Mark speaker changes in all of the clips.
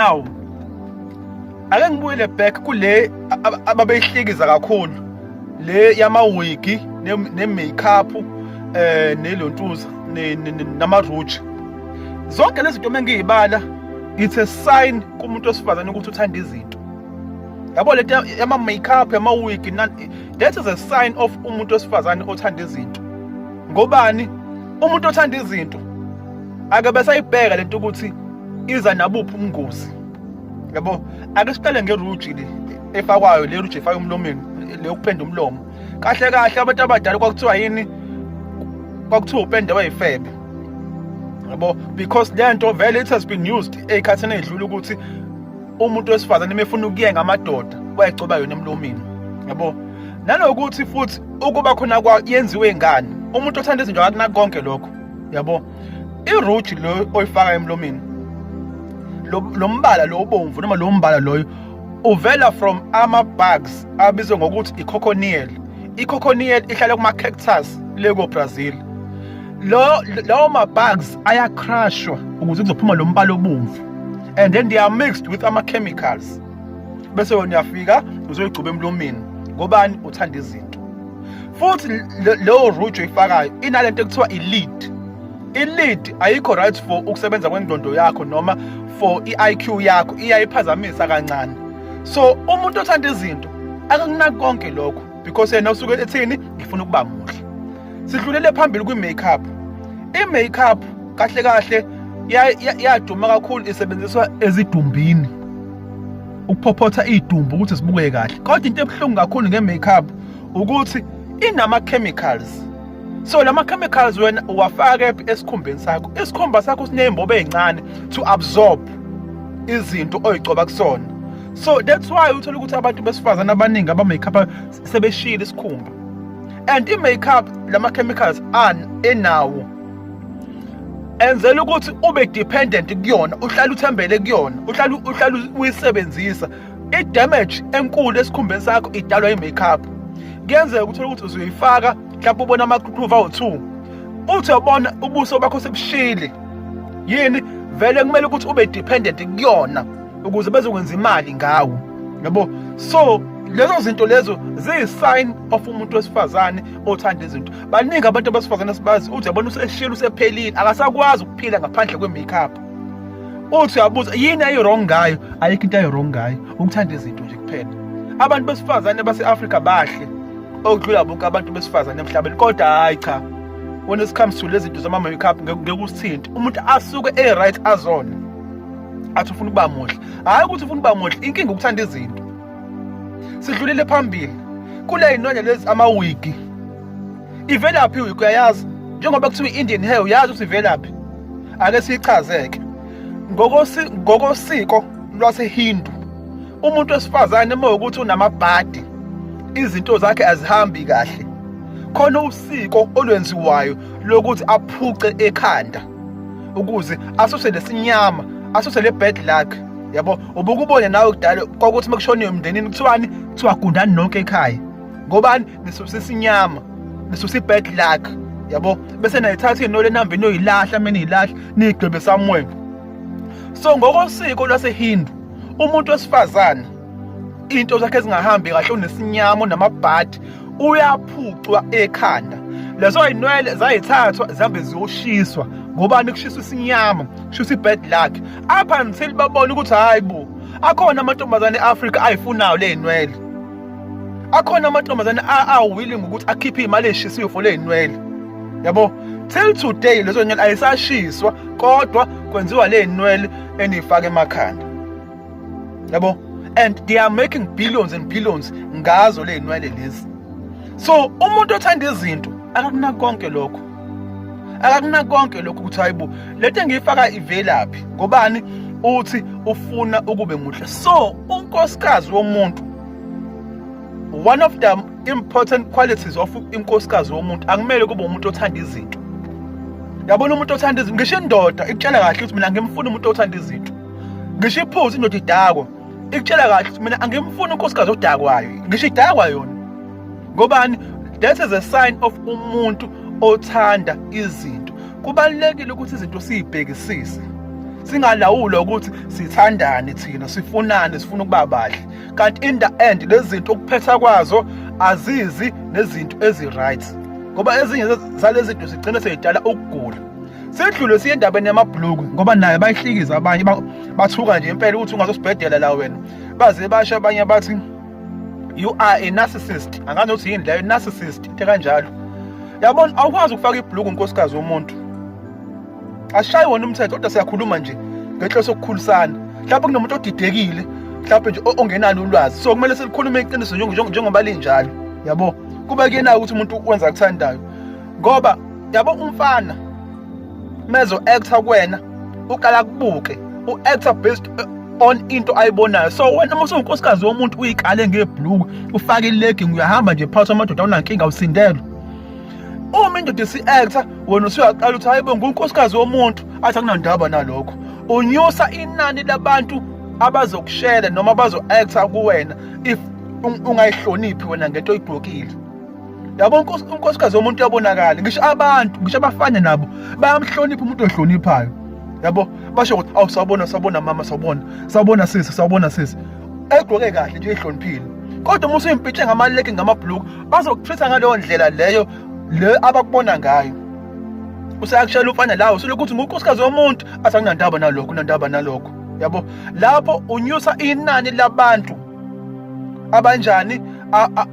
Speaker 1: now ake ngibuyele back kule ababeyihlekiza kakhulu le yamawigi ne-makeup eh nelontuza namaruji zonke lezi zinto mengiyibala it's a sign kumuntu wesifazane ukuthi uthanda izinto yabo lento yama makeup yama wig that is a sign of umuntu wesifazane othanda izinto ngobani umuntu othanda izinto ake besayibheka lento ukuthi iza nabuphi umngozi yabo ake siqale ngeruji le efakwayo le ruji efaka umlomeni le ukupenda umlomo kahle kahle abantu abadala kwakuthiwa yini kwakuthiwa upende wayifebe yabo because le nto vele it has been used ey'khathini ey'dlula ukuthi umuntu wesifazane mefuna ukuyenga amadoda wayegcoba yona emlomeni yabo nanokuthi futhi ukuba khona yenziwe ngani umuntu othanda izinto akunako konke lokho yabo iruji lo oyifaka emlomeni lo mbala lo obomvu noma lo mbala loyo uvela from ama-bugs abizwe ngokuthi i-cochoniel i-cochoniel ihlala kuma-cactus le ko-brazil lo lawo ma-bugs ayacrashwa ukuze kuzophuma lo mbala obomvu and then they are mixed with ama-chemicals bese wena uyafika uzoyigcuba emlomeni ngobani uthanda izinto futhi leyo rujo ifakayo inalento ekuthiwa i-lead i-lead ayikho right for ukusebenza kwengqondo yakho noma for i-IQ yakho iyayiphazamisa kancane so umuntu othanda izinto akakunaki konke lokho because yena usuke ethini ngifuna ukuba muhle sidlulele phambili kwi-makeup i-makeup kahle kahle yaduma kakhulu isebenziswa ezidumbini ukuphophotha idumbu ukuthi sibukeke kahle kodwa into ebuhlungu kakhulu nge-makeup ukuthi inama chemicals so lama chemicals wena uwafaka esikhumbeni sakho isikhumba sakho sinezimbobo ezincane to absorb izinto oyigcoba kusona so that's why uthola ukuthi abantu besifazana abaningi aba makeup sebeshila isikhumba and i makeup lama chemicals an enawo enzela ukuthi ube dependent kuyona uhlala uthembele kuyona uhlala uhlala uyisebenzisa i-damage enkulu esikhumbeni sakho idalwa yi-makeup kuyenzeka ukuthi ukuthi uzoyifaka mhlawumbe ubona amaqhuqhuva awu-two uthi ubona ubuso bakho sebushile yini vele kumele ukuthi ube dependent kuyona ukuze bezokwenza imali ngawo yabo so lezo zinto lezo ziyi-sign of umuntu wesifazane othanda izinto baningi abantu abesifazane sibazi uthi yabona useshile usephelile akasakwazi ukuphila ngaphandle kwe-makeup uthi uyabuza yini ayi-wrong ngayo ayikho into ayi-wrong ngayo ukuthanda izinto nje kuphela abantu besifazane base-afrika bahle okudlula bonke abantu besifazane emhlabeni kodwa hhayi cha when it comes to lezi zinto zama-makeup ngeke usithinte umuntu asuke e-right azona athi ufuna ukuba muhle hhayi ukuthi ufuna ukuba muhle inkinga ukuthanda izinto sidlulile phambili kule yinonya lezi amawigi ivelaphi wig uyayazi njengoba kuthiwa i-indian hair uyazi ukuthi ivelaphi ake siyichazeke ngokosiko lwasehindu umuntu wesifazane uma ukuthi unamabhadi izinto zakhe azihambi kahle khona usiko olwenziwayo lokuthi aphuce ekhanda ukuze asuse lesinyama asuse le bad luck yabo ubukubone nawe kudala kwakuthi mekushoniwe emndenini kuthiwani kuthiwa gundani nonke ekhaya ngobani nisusa isinyama nisusa i-bad luck yabo bese nayithatha inole nihamba inoyilahla mina iyilahla niyigqibe somewhere so ngokosiko lwasehindu umuntu wesifazane into zakhe ezingahambi kahle unesinyama unamabhadi uyaphucwa ekhanda lezo inwele zayithathwa zihambe ziyoshiswa ngobani kushiswa isinyama kushiswa i-bad luck up until babone ukuthi hayi bo akhona amantombazane e-afrika ayifunayo le ynwele akhona amantombazane awilling ukuthi akhiphe imali eshisiwe for lezinwele yabo till today lezo nywele ayisashiswa kodwa kwenziwa lezinwele enifaka emakhanda yabo and they are making billions and billions ngazo lezinwele lezi so umuntu othanda izinto akakunaki konke lokho akakuna konke lokhu ukuthi hayibo lento engiyifaka ivelaphi ngobani uthi ufuna ukube muhle so unkosikazi womuntu one of the important qualities of inkosikazi womuntu akumele kube umuntu othanda izinto yabona umuntu othanda izinto ngisho indoda ikutshela kahle ukuthi mina ngimfuna umuntu othanda izinto ngisho iphuzi indoda idakwa ikutshela kahle ukuthi mina angimfuni unkosikazi odakwayo ngisho idakwa yona ngobani that is a sign of umuntu othanda izinto kubalulekile ukuthi izinto siyibhekisise singalawula ukuthi sithandane thina sifunane sifuna ukuba bahle kanti in the end lezi zinto ukuphetha kwazo azizi nezinto ezi-right ngoba ezinye zalezi zinto zigcine seyidala ukugula sedlule siye endabeni yamabhuluku ngoba naye bayihlikiza abanye bathuka nje impela ukuthi ungazosibhedela la wena baze basho abanye bathi you are a narcissist angazi ukuthi yini leyo narcissist into kanjalo yabona awukwazi ukufaka ibhluku unkosikazi womuntu ashayi wona umthetho kodwa siyakhuluma nje ngenhloso yokukhulisana mhlawumbe kunomuntu odidekile mhlawumbe nje ongenani ulwazi so kumele silikhulume iqiniso njengoba linjalo yabo kuba kuyena ukuthi umuntu wenza akuthandayo ngoba yabo umfana mezo actor kuwena uqala kubuke u actor based eh, on into ayibonayo so wena uma usunkosikazi womuntu uyikale ngebhluku ufake ilegi uyahamba nje phakathi amadoda unankinga usindelwe uma indoda isi-actor wena usuyaqala ukuthi hayibo ngunkosikazi womuntu athi akunandaba nalokho unyusa inani labantu abazokushela noma bazo-actor kuwena if ungayihloniphi wena ngento oyigqokile yabo unkosikazi womuntu uyabonakala ngisho abantu ngisho abafana nabo bayamhlonipha umuntu ohloniphayo yabo basho ukuthi awu sawubona sawubona mama sawubona sawubona sisi sawubona sisi egqoke kahle nje ihloniphile kodwa uma usuyimpitshe ngamaleke ngamabhuluku bazokuthetha ngaleyo ndlela leyo le abakubona ngayo usayakushela umfana lawo selokhu uthi ngunkosikazi womuntu athi anginandaba nalokho unandaba nalokho yabo lapho unyusa inani labantu abanjani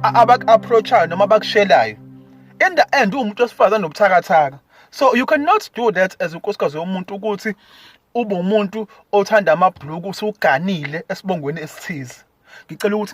Speaker 1: abaku-approachayo noma abakushelayo in the end uwumuntu wesifazane nobuthakathaka so you cannot do that as unkosikazi yomuntu ukuthi ube umuntu othanda amabhuluku usuganile esibongweni esithize ngicela ukuthi